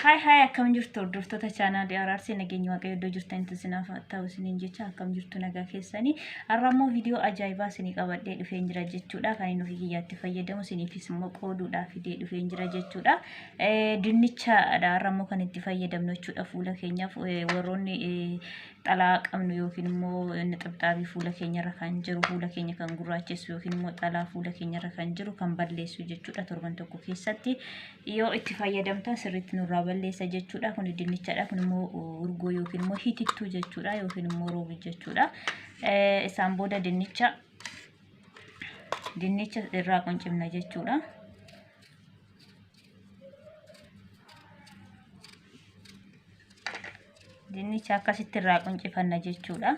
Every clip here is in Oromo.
Haay haay akkam jirtu hordoftoota chaanaalii Araarsee nageenya waaqayyo iddoo jirtanitti isinaaf haa ta'u isiniin jecha akkam jirtu nagaa keessanii har'a immoo viidiyoo ajaa'ibaa isinii qabadhee dhufeen jira jechuudha kan inni ofii kiyyaatti fayyadamu isiniifis immoo qooduudhaa fidee dhufeen jira jechuudha dinnichaadha har'a immoo kan itti fayyadamnu jechuudha fuula keenyaaf warroonni xalaa qabnu yookiin immoo nixibxaabii fuula keenyarra kan jiru fuula keenya kan gurraachessu yookiin immoo xalaa fuula keenyarra kan jiru kan balleessu jechuudha torban tokko keessatti yoo itti fayyadamtan sirriitti nurraa balleessa jechuudha. Kun dinnichadha. Kun immoo urgoo yookiin immoo hitittuu jechuudha yookiin immoo roobii jechuudha. Isaan booda dinnicha dinnicha irraa quncifna jechuudha. Dinnicha akkasitti irraa quncifanna jechuudha.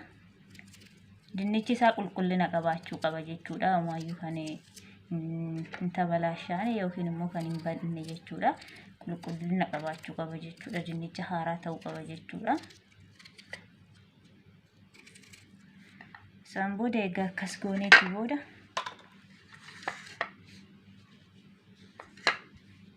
Dinnichi isaa qulqullina qabaachuu qaba jechuudha. Amaayyuu kan hin tabalaashaane yookiin immoo kan hin badne jechuudha. Qulqullina qabaachuu qaba jechuudha. Dinnicha haaraa ta'uu qaba jechuudha. Isaan booda egaa akkas gooneeti booda.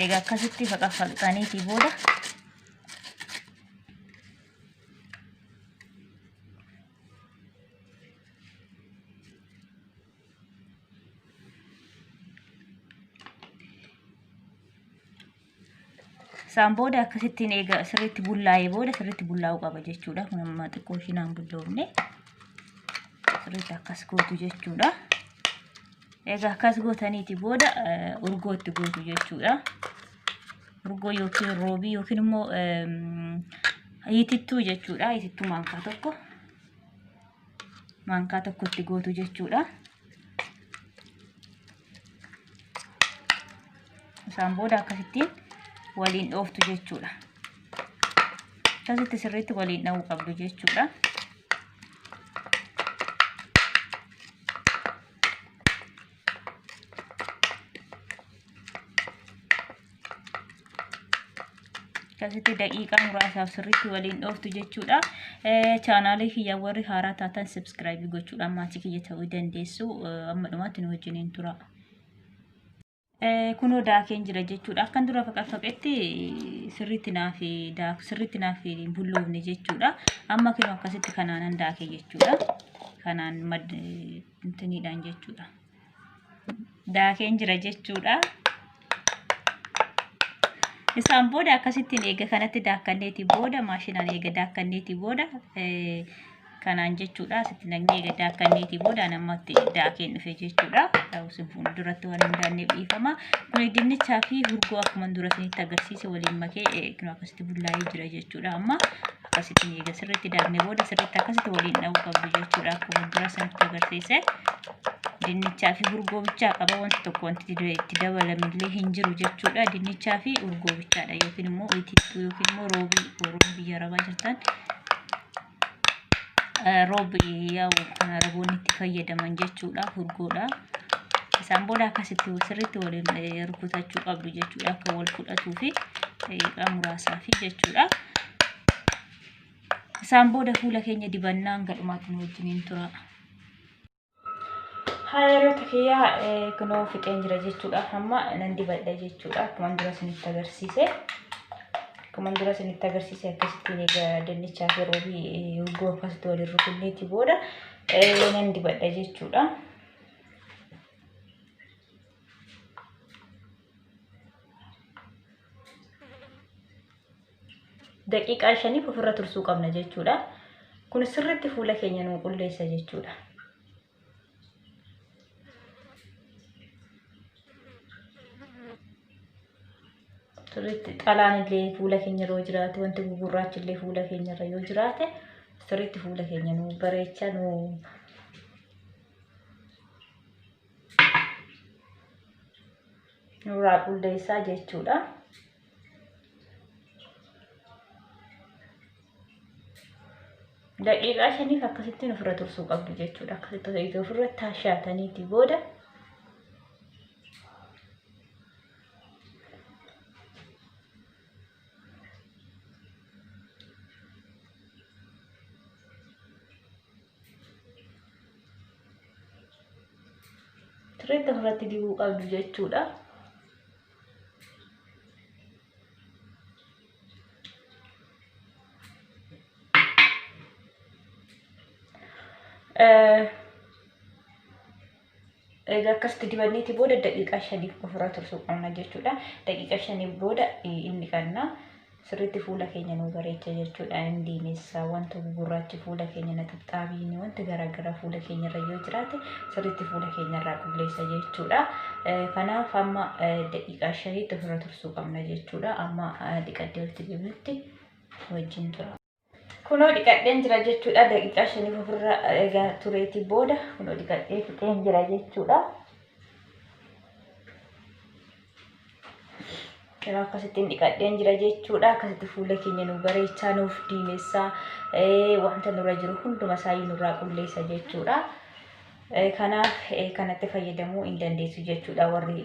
eega akkasitti faqaffaqxaniitii booda Isaan booda akkasittiin eega sirriitti bullaa'ee booda sirriitti bullaa'uu qaba jechuudha. Kun amma xiqqoo ishii naan bulloofne sirriitti akkas gootu jechuudha. Egaa akkas gootaniiti booda urgoo itti gootu jechuudha. Urgoo yookiin roobii yookiin immoo hiitittuu jechuudha. Hiitittuu maankaa tokko. maankaa tokkotti gootu jechuudha. Isaan booda akkasittiin waliin dhooftu jechuudha. Akkasitti sirriitti waliin dhahuu qabdu jechuudha. akkasitti daqiiqaa muraasaaf sirriitti waliin dhooftu jechuudha. Chaanaalii kiyya warri haaraa taatan subscribe gochuudhaan maatii kiyya ta'uu dandeessu. Amma dhumaatti nu wajjiniin tura. Kunoo daakeen jira jechuudha. Akkan dura faqaqfaqetti sirriitti naaf daaku sirriitti naaf bulloofne jechuudha. Amma kunoo akkasitti kanaanan daake jechuudha. Kanaan intiniidhaan jechuudha. Daakeen jira jechuudha. Isaan booda akkasittiin eega kanatti daakkanneetii booda maashinaan eega daakkanneetii booda kanaan jechuudha. Asitti naqnee eega daakkanneetii booda namatti daakeen dhufe jechuudha. Ta'us fuulduratti waan hin daanneef dhiifama. Kuni dinnichaa fi hurgoo akkuma dura isinitti agarsiise waliin makee akkasitti bullaa'ee jira jechuudha. Amma akkasitti eega sirriitti daakne booda sirriitti akkasitti waliin dha'uu qabdu jechuudha akkuma dura sanitti agarsiise dinnichaa fi urgoo bichaa qaba wanti tokko wanti itti dabalamillee hin jiru jechuudha dinnichaa fi urgoo bichaadha yookiin immoo itittuu yookiin immoo roobii warroon biyya arabaa jirtan roobii yaa'u kan araboonni itti fayyadaman jechuudha urgoodha. isaan booda akkasitti sirriitti waliin rukutachuu qabdu jechuudha akka wal fudhatuu fi daqiiqaa muraasaa fi jechuudha. Isaan booda fuula keenya dibannaa hanga dhumaatti nu wajjiniin tura. Haayiroota kiyyaa kunoo fixeen jira jechuudha. Amma nan dibadha jechuudha. Akkuma dura isinitti agarsiise. Akkuma dura isinitti agarsiise akkasittiin egaa dinnichaa fi roobii urgoo akkasitti waliin rukunneeti booda nan dibadha jechuudha. daqiiqaa shaniif ofirra tursuu qabna jechuudha. Kun sirriitti fuula keenya nuu qulleessa jechuudha. Sirriitti xalaan illee fuula keenya irra yoo jiraate wanti gugurraachi illee fuula keenya irra yoo jiraate sirriitti fuula keenya nuu bareecha nuu nurraa qulleessaa jechuudha. daqiiqaa shaniif akkasittiin ofirra tursuu qabdu jechuudha. Akkasitti osoo itti ofirra taashaataniiti booda sirriitti ofirratti dibuu qabdu jechuudha. Egaa akkasitti dibanneeti booda daqiiqaa shaniif ofirraa tursuu qabna jechuudha. Daqiiqaa shaniif booda inni qabna. Sirriitti fuula keenya nu bareecha jechuudha. Indiinis wanta gugurraachi fuula keenya na xixxaabiin wanti garaagaraa fuula keenya irra yoo jiraate sirriitti fuula keenya irraa qulleessa jechuudha. Kanaaf amma daqiiqaa shaniitti ofirra tursuu qabna jechuudha. Amma dhiqaddee walitti deebinutti wajjin tura. Kunoo dhiqadheen jira jechuudha. Daqiiqaa shaniif ofirra egaa tureeti booda kunoo dhiqadhee fixeen jira jechuudha. Yeroo akkasittiin dhiqadheen jira jechuudha. Akkasitti fuula keenya nu bareechaa nuuf diimessaa wanta nurra jiru hunduma isaayyuu nurraa qulleessa jechuudha. Kanaaf kanatti fayyadamuu hin dandeessu jechuudha warri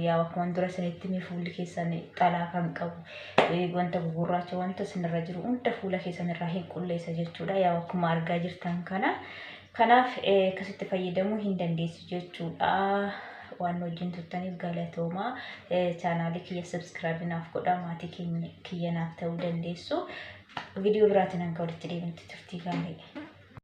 yaa akkuma dura isinitti himee fuulli keessan xalaa kan qabu wanta gugurraacha wanta isinirra jiru hunda fuula keessan irraa hin qulleessa jechuudha yaa akkuma argaa jirtan kana kanaaf akkasitti fayyadamuu hin dandeessu jechuudha waan wajjin turtaniif galatoomaa chaanaalii kiyya sabskiraabii naaf godhaa maatii kiyya naaf ta'uu dandeessu viidiyoo biraatiin hanga walitti deemutti turtii gaarii.